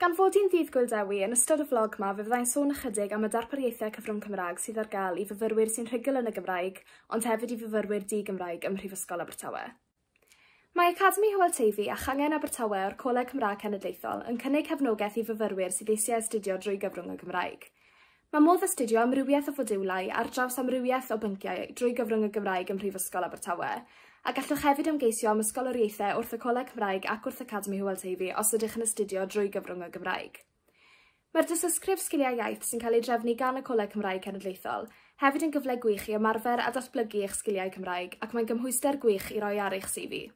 Gan fod hi'n Ddydd Gŵyl Dewi, yn ystod y flog 'ma fe fyddai'n sôn ychydig am y darpariaethau cyfrwng Cymraeg sydd ar gael i fyfyrwyr sy'n rhugl yn y Gymraeg ond hefyd i fyfyrwyr di-Gymraeg ym Mhrifysgol Abertawe. Mae Academi Hywel Teifi a Changen Abertawe o'r Coleg Cymraeg Cenedlaethol yn cynnig cefnogaeth i fyfyrwyr sydd eisiau astudio drwy gyfrwng y Gymraeg. Mae modd astudio amrywiaeth o fodiwlau ar draws amrywiaeth o bynciau drwy gyfrwng y Gymraeg ym Mhrifysgol Abertawe, a gallwch hefyd ymgeisio am ysgoloriaethau wrth y Coleg Cymraeg ac wrth Academi Hywel Teifi os ydych yn astudio drwy gyfrwng y Gymraeg. Mae'r dystysgrif Sgiliau Iaith sy'n cael ei drefnu gan y Coleg Cymraeg Cenedlaethol hefyd yn gyfle gwych i ymarfer a datblygu eich sgiliau Cymraeg ac mae'n gymhwyster gwych i roi ar eich CV.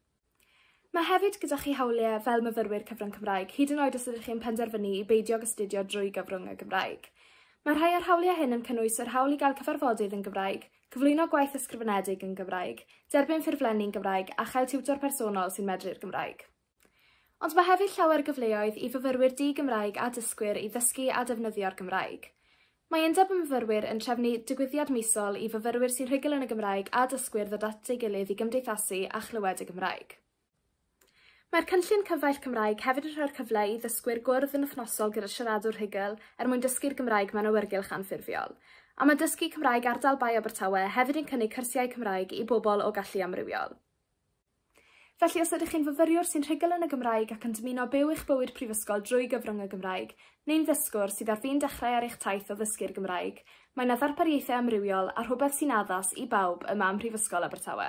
Mae hefyd gyda chi hawliau fel myfyrwyr cyfrwng Cymraeg, hyd yn oed os ydych chi'n penderfynu i beidio ag astudio drwy gyfrwng y Gymraeg. Mae rhai o'r hawliau hyn yn cynnwys yr hawl i gael cyfarfodydd yn Gymraeg, cyflwyno gwaith ysgrifenedig yn Gymraeg, derbyn ffurflenni yn Gymraeg a chael tiwtor personol sy'n medru'r Gymraeg. Ond mae hefyd llawer gyfleoedd i fyfyrwyr di-Gymraeg a dysgwyr i ddysgu a defnyddio'r Gymraeg. Mae Undeb y Myfyrwyr yn trefnu digwyddiad misol i fyfyrwyr sy'n rhugl yn y Gymraeg a dysgwyr ddod at ei gilydd i gymdeithasu a chlywed y Gymraeg. Mae'r cynllun Cyfaill Cymraeg hefyd yn rhoi'r cyfle i ddysgwyr gwrdd yn wythnosol gyda siaradwr rhugl er mwyn dysgu'r Gymraeg mewn awyrgylch anffurfiol. A mae Dysgu Cymraeg Ardal Bae Abertawe hefyd yn cynnig cyrsiau Cymraeg i bobl o gallu amrywiol. Felly, os ydych chi'n fyfyriwr sy'n rhugl yn y Gymraeg ac yn dymuno byw eich bywyd prifysgol drwy gyfrwng y Gymraeg, neu'n ddysgwr sydd ar fin dechrau ar eich taith o ddysgu'r Gymraeg, mae 'na ddarpariaethau amrywiol a rhywbeth sy'n addas i bawb yma ym Mhrifysgol Abertawe.